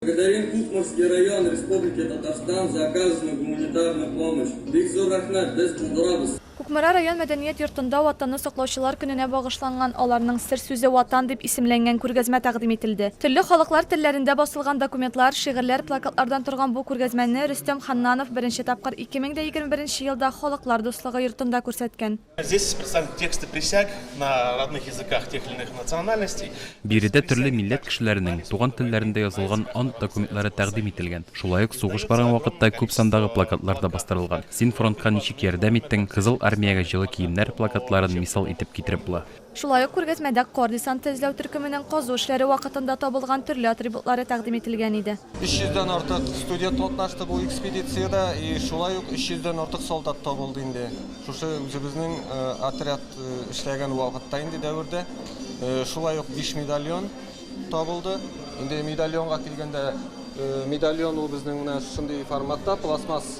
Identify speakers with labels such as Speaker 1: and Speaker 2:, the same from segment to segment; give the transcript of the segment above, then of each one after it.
Speaker 1: Благодарим Кукмарский район Республики Татарстан за оказанную гуманитарную помощь. Бик зур рәхмәт, без булдырабыз. Кукмара район
Speaker 2: мәдәният йортында Ватанны саклаучылар көненә багышланган Аларның сер сүзе Ватан дип исемләнгән күргәзмә тәкъдим ителде. Төрле халыклар телләрендә басылган документлар, шигырьләр, плакатлардан торган бу күргәзмәне Рөстәм Ханнанов беренче тапкыр 2021 елда Халыклар дуслыгы йортында күрсәткән.
Speaker 3: Биредә төрле
Speaker 4: милләт кешеләренең туган телләрендә язылган ант документлары тәкъдим ителгән. Шулай ук сугыш барган вакытта күп сандагы плакатлар да бастырылган. Син фронтка ничек ярдәм иттең, Кызыл Армиягә җылы киемнәр плакатларын мисал итеп китереп була. Шулай ук күргәзмәдә
Speaker 2: Кор десанты эзләү төркеменең казу эшләре вакытында табылган төрле атрибутлары тәкъдим ителгән иде. 300 дән артык
Speaker 5: студент катнашты бу экспедициядә, и шулай ук 300 дән артык солдат табылды инде шушы үзебезнең отряд эшләгән вакытта инде дәвердә. Шулай ук биш медальон табылды. Инде медальонга килгәндә, медальон ул безнең менә шундый форматта, пластмасс.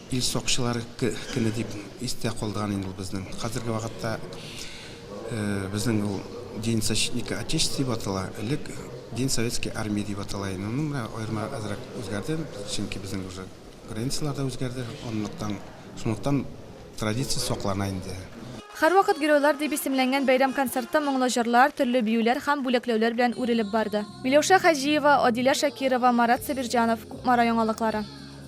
Speaker 6: Ил сакчылары көне дип истә калдырган инде ул безнең. Хәзерге вакытта безнең ул День защитника Отечества дип атала, элек День советской армии дип атала иде. Моның менә аерма әзрәк үзгәрде, чөнки безнең уже границалар да үзгәрде, анлыктан, шунлыктан традиция саклана инде. Һәрвакыт Геройлар
Speaker 2: дип исемләнгән бәйрәм концертта моңлы җырлар, төрле биюләр һәм бүләкләүләр белән үрелеп барды. Миләүшә Хаҗиева, Адилә Шакирова, Марат Сабирҗанов, Кукмара яңалыклары.